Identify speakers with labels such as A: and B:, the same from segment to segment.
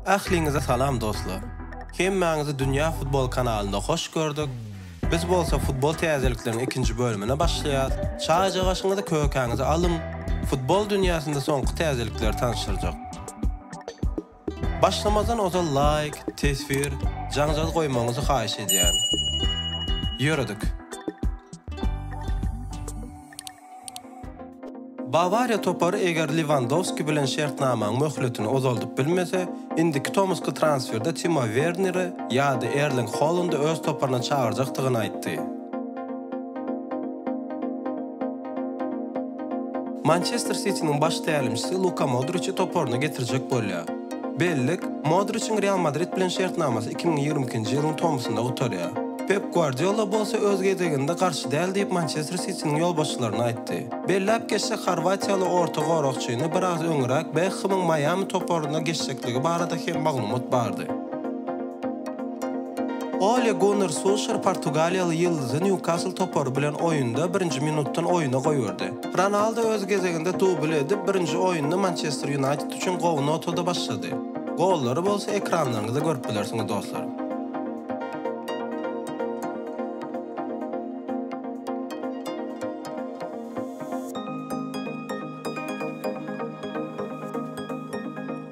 A: Ähliňize salam dostlar! Hemmäňizi Dünýä Futbol kanalynda hoş gördük! Biz bolsa futbol täzelikleriň ikinji bölümine başlaýas. Çaýjagaşyňyzy, kökäňizi alyň! Futbol dünýäsinde soňky täzelikleri tanyşdyrjak. Başlamazdan ozal laýk, teswir, jaňjal goýmagyňyzy haýyş edýän. Ýöredik. Bawariýa topary eger Lewandowski bilen şertnamaň möhletini uzaldyp bilmese, indiki tomusky transferde Timo Werneri ýa-da Erling Holandy öz toparyna çagyrjakdygyny aýtdy. Mançester Sitiniň baş tälimçisi Luka Modriçi toparyna getirjek bolýar. Bellik, Modriçiň Real Madrid bilen şertnamasy iki müň ýigrimi ikinji ýylyň tomusynda gutarýar. Pep Gwardiola bolsa öz gezeginde garşy däl diýip Mançester Sitiniň ýolbaşçylaryna aýtdy. Belläp geçsek, horwatiýaly orta goragçyny biraz öňräk Bekhemiň Maýami toparyna geçjekligi barada hem maglumat bardy. Ole Gunnar Sulşer portugaliýaly ýyldyzy Nýukasl topary bilen oýunda birinji minutdan oýuna goýberdi. Ronaldo öz gezeginde dubl edip, birinji oýnuny Mançester Ýunaýted üçin gowy notada başlady. Gollary bolsa ekranlaryňyzda görüp bilersiňiz dostlar.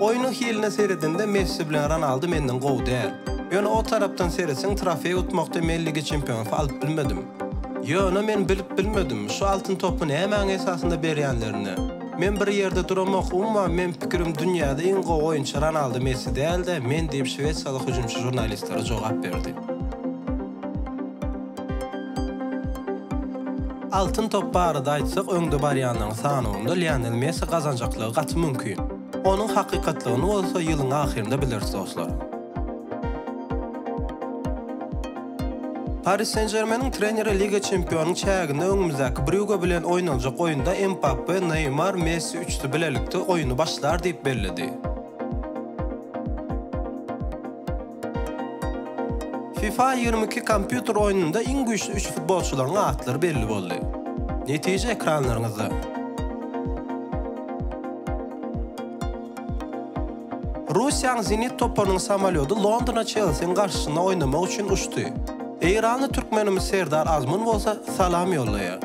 A: Oýnuň hiline seredende Messi bilen Ronaldu menden gowy däl. Ýöne o tarapdan seretseň trofeý utmakda men Ligi Çempionasy alyp bilmedim. Ýöne men bilip bilmedim, şu Altyn topy nämäň esasynda berýänlerini. Men bir ýerde duramok, umuman meň pikirim dünýäde iň gowy oýunçy Ronaldu Messi däl-de, men diýip şwesiýaly hüjümçi žurnalistlere jogap berdi. Altyn top barada aýtsak öňde barýanlaryň sanawynda Lionel Messi gazanjaklygy gaty mümkin. Onuň hakykatlygyny bolsa ýylyň ahyrynda bileris dostlar. Paris Sen-Žermeniň treneri Liga çempionyň çäginde öňümizdäki Brýuge bilen oýnaljak oýunda Mbappe, Neýmar, Messi üçüsi bilelikde oýny başlar diýip belledi. Fifa ýigrimi iki kompýuter oýnunda iň güýçli üç futbolçylaryň atlary belli boldy. Netije ekranlaryňyzda. Russiýanyň Zenit toparynyň samolýody Londona Çelsiniň garşysyna oýnamak üçin uçdy. Eýranly türkmenimiz Serdar Azmun bolsa salam ýollaýar.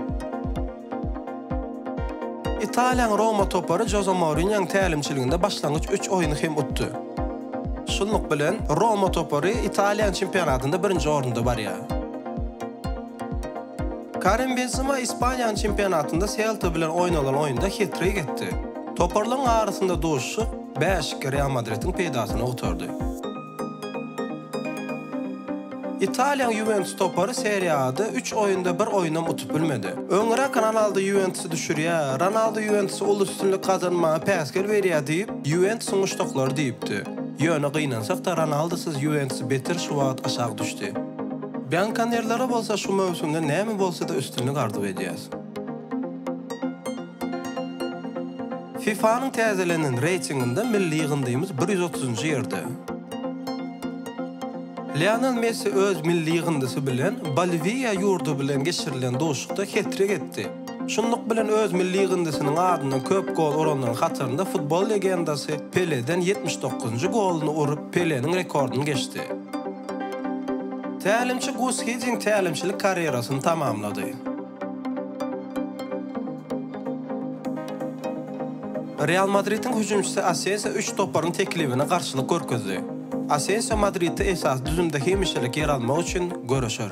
A: Italiýanyň Roma topary Joze Mourinýonyň tälimçiliginde başlangyç üç oýny hem utdy. Şunluk bilen, Roma topary Italiýanyň çempionatynda birinji orunda barýar. Karim Benzema Ispaniýanyň çempionatynda Selta bilen oýnalan oýunda het-trik etdi. Toparlaryň arasynda duşuşyk bäşlikli Real Madridiň peýdasyna gutardy. Italiýanyň Ýuwentus topary Serie A-da üç oýunda bir oýunam utup bilmedi. Öňräk Ronaldo Ýuwentusy düşürýär, Ronaldo Ýuwentusa uly üstünlik gazanmaga päsgel berýär diýip, Ýuwentusyň muşdaklary diýipdi. Ýöne gynansak-da, Ronaldosyz Ýuwentus beter şu wagt aşak düşdi. Biankonerlere bolsa şu möwsümde näme bolsa-da üstünlik arzuw edýäs. FIFA-nyň täzelenen reýtinginde milli ýygyndymyz bir ýüz otuzynjy ýerde. Lionel Messi öz milli ýygyndysy bilen Boliwiýa ýurdy bilen geçirilen duşuşykda het-trik etdi. Şunluk bilen öz milli ýygyndysynyň adyndan köp gol uranlaryň hatarynda futbol legendasy Peleden ýetmiş dokuzynjy goluny urup Peleniň rekordyny geçdi. Tälimçi Gus Hiddink tälimçilik karýerasyny tamamlady. Real Madridiň hüjümçisi Asensio üç toparyň teklibine garşylyk görkezdi. Asensio Madridde esasy düzümde hemişelik ýer almak üçin göreşer.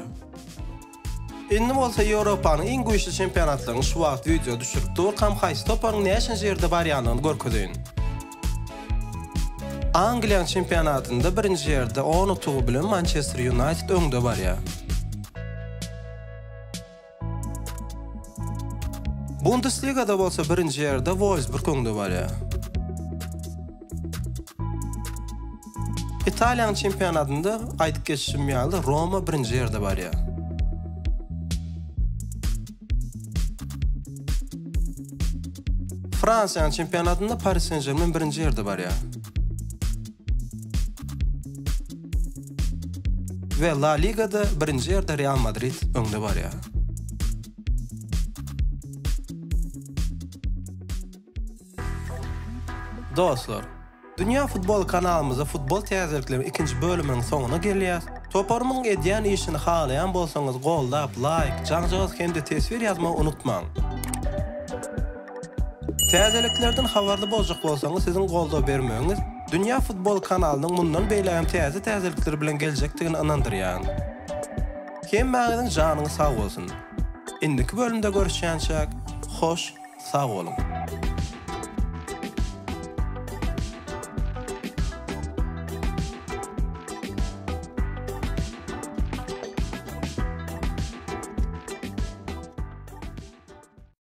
A: Indi bolsa Ýewropanyň iň güýçli çempionatlaryny şu wagt wideo düşürip durkam haýsy toparyň näçenji ýerde barýandygyny görkezeýin. Angliýanyň çempionatynda birinji ýerde on utugy bilen Mançester Ýunaýted öňde barýar. Bundesligada bolsa birinji ýerde Wolfsburg öňde barýar. Italiýanyň çempionatynda aýdyp geçişim ýaly Roma birinji ýerde barýar. Fransiýanyň çempionatynda Paris Saint-Germain birinji ýerde barýar. We La Ligada birinji ýerde Real Madrid öňde barýar. Dostlar, Dünýä Futbol kanalymyzda futbol täzelikleriň ikinji bölüminiň soňuna gelýäs. Toparymyň edýän işini halaýan bolsaňyz goldap, laýk, jaňjagaz hem-de teswir ýazmagy unutmaň. Täzeliklerden habarly boljak bolsaňyz siziň goldaw bermegiňiz Dünýä Futbol kanalynyň mundan beýlägem täze täzelikler bilen geljekdigini ynandyrýan. Hemmäňiziň janyňyz sag bolsun. Indiki bölümde görüşýänçäk hoş sag boluň.